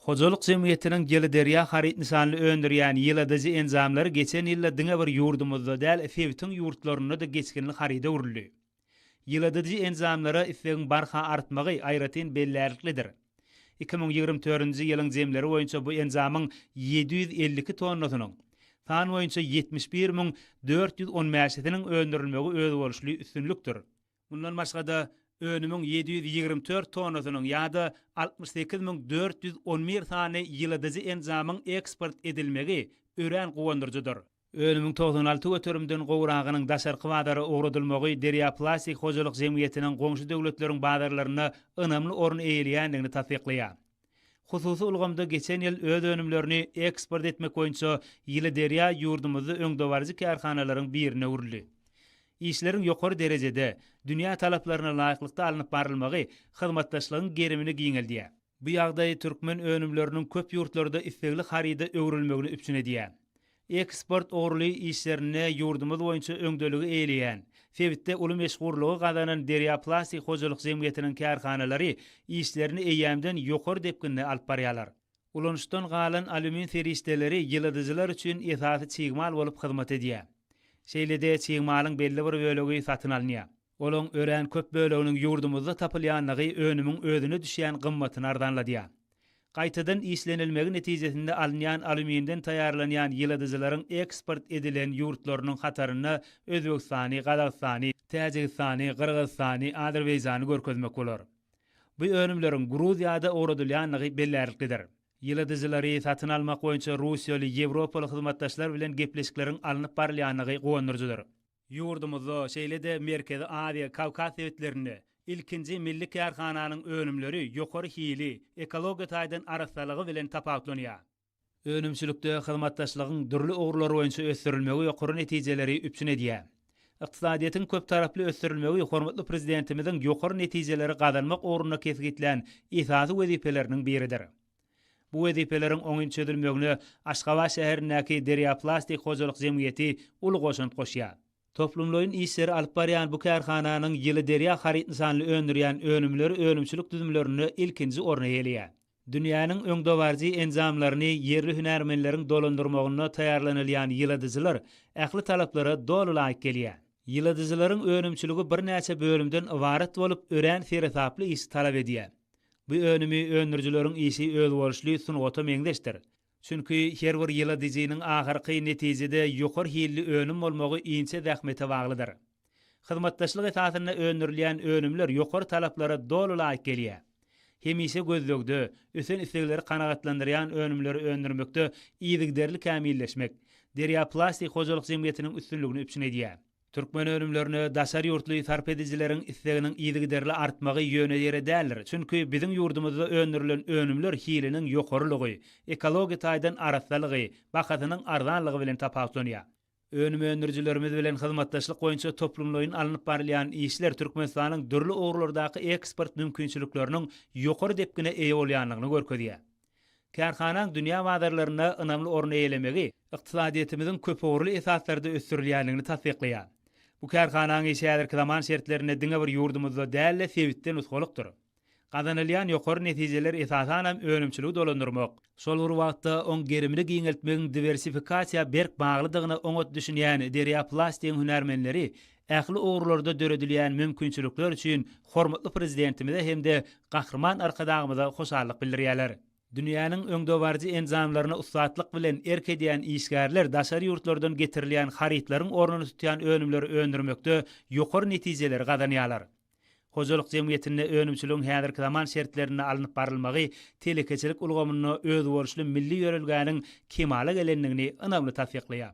Hojalyk jemgyýetiniň Geliderýa haryt nyşanly öndürýän ýyladyjy enjamlary geçen ýylda diňe bir ýurdumyzda däl, sebitiň ýurtlarynda-da geçginli haryda öwrüldi. Ýyladyjy enjamlara islegiň barha artmagy aýratyn bellärliklidir. Iki müň ýigrimi törünji ýylyň jemleri boýunça bu enjamyň ýedi ýüz elli iki tonnasynyň, san boýunça ýetmiş bir müň dört ýüz on bäşisiniň öndürilmegi özboluşly üstünlikdir. Mundan başga-da, önümiň ýedi ýüz ýigrimi dört tonnasynyň ýa-da altmyş sekiz müň dört ýüz on bir sany ýyladyjy enjamyň eksport edilmegi örän guwandyryjydyr. Önümiň togsan alty göterimden gowragynyň daşarky bazara ugradylmagy Derýa plastik hojalyk jemgyýetiniň goňşy döwletleriň bazarlarynda ynamly orun eýeleýändigini tassyklaýar. Hususy ulgamda geçen ýyl öz önümlerini eksport etmek boýunça Ýyly derýa ýurdumyzda öňdebaryjy kärhanalaryň birine öwrüldi. Işleriň ýokary derejede, dünýä talaplaryna laýyklykda alnyp barylmagy hyzmatdaşlygyň gerimini giňeldýär. Bu ýagdaý türkmen önümleriniň köp ýurtlarda islegli haryda öwrülmegini üpjün edýär. Eksport ugurly işlerinde ýurdumyz boýunça öňdeligi eýeleýän, sebitde uly meşhurlygy gazanan Derýa plastik hojalyk jemgyýetiniň kärhanalary işlerini eýýämden ýokary depginde alyp barýarlar. Ulanyşdan galan alýumin serişdeleri ýyladyjylar üçin esasy çig mal bolup hyzmat edýär. Şeýle-de çig malyň belli bir bölegi satyn alynýar. Olaryň örän köp böleginiň ýurdumyzda tapylýanlygy önümiň özüne düşýän gymmatyny arzanladýar. Gaýtadan işlenilmegi netijesinde alynýan alýuminden taýýarlanýan ýyladyjylaryň eksport edilen ýurtlarynyň hatarynda Özbegistany, Gazagystany, Täjigistany, Gyrgyzystany, Azerbaýjany görkezmek bolar. Bu önümleriň Gruziýada ugradylýanlygy bellärliklidir. Ýyladyjylary satyn almak boýunça russiýaly, ýewropaly hyzmatdaşlar bilen gepleşikleriň alnyp barylýanlygy guwandyryjydyr. Ýurdumyzda, şeýle-de Merkezi Aziýa, Kawkaz sebitlerinde ilkinji milli kärhananyň önümleri ýokary hili, ekologiýa taýdan arassalygy bilen tapawutlanýar. Önümçilikde hyzmatdaşlygyň dürli ugurlary boýunça ösdürilmegi ýokary netijeleri üpjün edýär. Ykdysadyýetiň köptaraply ösdürilmegi hormatly Prezidentimiziň ýokary netijeleri gazanmak ugrunda kesgitlän esasy wezipeleriniň biridir. Bu wezipeleriň oňyn çözülmegine Aşgabat şäherindäki Derýa plastik hojalyk jemgyýeti uly goşant goşýar. Toplumlaýyn işleri alyp barýan bu kärhananyň ýyly Derýa haryt nysanly öndürýän önümleri önümçilik düzümlerinde ilkinji orny eýeleýär. Dünýäniň öňdebaryjy enjamlaryny ýerli hünärmenleriň dolandyrmagynda taýýarlanylýan ýyladyjylar ähli talaplara doly laýyk gelýär. Ýyladyjylaryň önümçiligi birnäçe bölümden ybarat bolup, örän seresaply işi talap edýär. Bu önümi öndürijileriň işi özboluşly sungata meňzeşdir. Çünki her bir ýyladyjynyň ahyrky netijede ýokary hilli önüm bolmagy inçe zähmete baglydyr. Hyzmatdaşlyk esasynda öndürilýän önümler ýokary talaplara doly laýyk gelýär. Hemişe gözlegde, ösen islegleri kanagatlandyrýan önümleri öndürmekde yzygiderli kämilleşmek Derýa plastik hojalyk jemgyýetiniň üstünligini üpjün edýär. Türkmen önümlerine daşary ýurtly sarp edijileriň isleginiň yzygiderli artmagy ýöne ýere däldir, çünki biziň ýurdumyzda öndürilen önümler hiliniň ýokarylygy, ekologiýa taýdan arassalygy, bahasynyň arzanlygy bilen tapawutlanýar. Önüm öndürijilerimiz bilen hyzmatdaşlyk boýunça toplumlaýyn alnyp barylýan işler Türkmenistanyň dürli ugurlardaky eksport mümkinçilikleriniň ýokary depgine eýe bolýandygyny görkezýär. Kärhanaň dünýä bazarlarynda ynamly orun eýelemegi ykdysadyýetimiziň köpugurly esaslarda ösdürilýändigini tassyklaýar. Bu kärhanaň işi häzirki zaman şertlerinde diňe bir ýurdumyzda däl-de, sebitde nusgalykdyr. Gazanylýan ýokary netijeler esasanam önümçiligi dolandyrmak, şol bir wagtda oň gerimini giňeltmegiň diwersifikasiýa berk baglydygyna oňat düşünýän Derýa Plastigiň hünärmenleri ähli ugurlarda döredilýän mümkinçilikler üçin hormatly Prezidentimize hem-de Gahryman Arkadagymyza hoşallyk bildirýärler. Dünýäniň öňdebaryjy enjamlaryna ussatlyk bilen erk edýän işgärler daşary ýurtlardan getirilýän harytlaryň ornuny tutýan önümleri öndürmekde ýokary netijeleri gazanýarlar. Hojalyk jemgyýetinde önümçiligiň häzirki zaman şertlerinde alnyp barylmagy telekeçilik ulgamynda özboluşly milli ýörelgäniň kemala gelendigini ynamly tassyklaýar.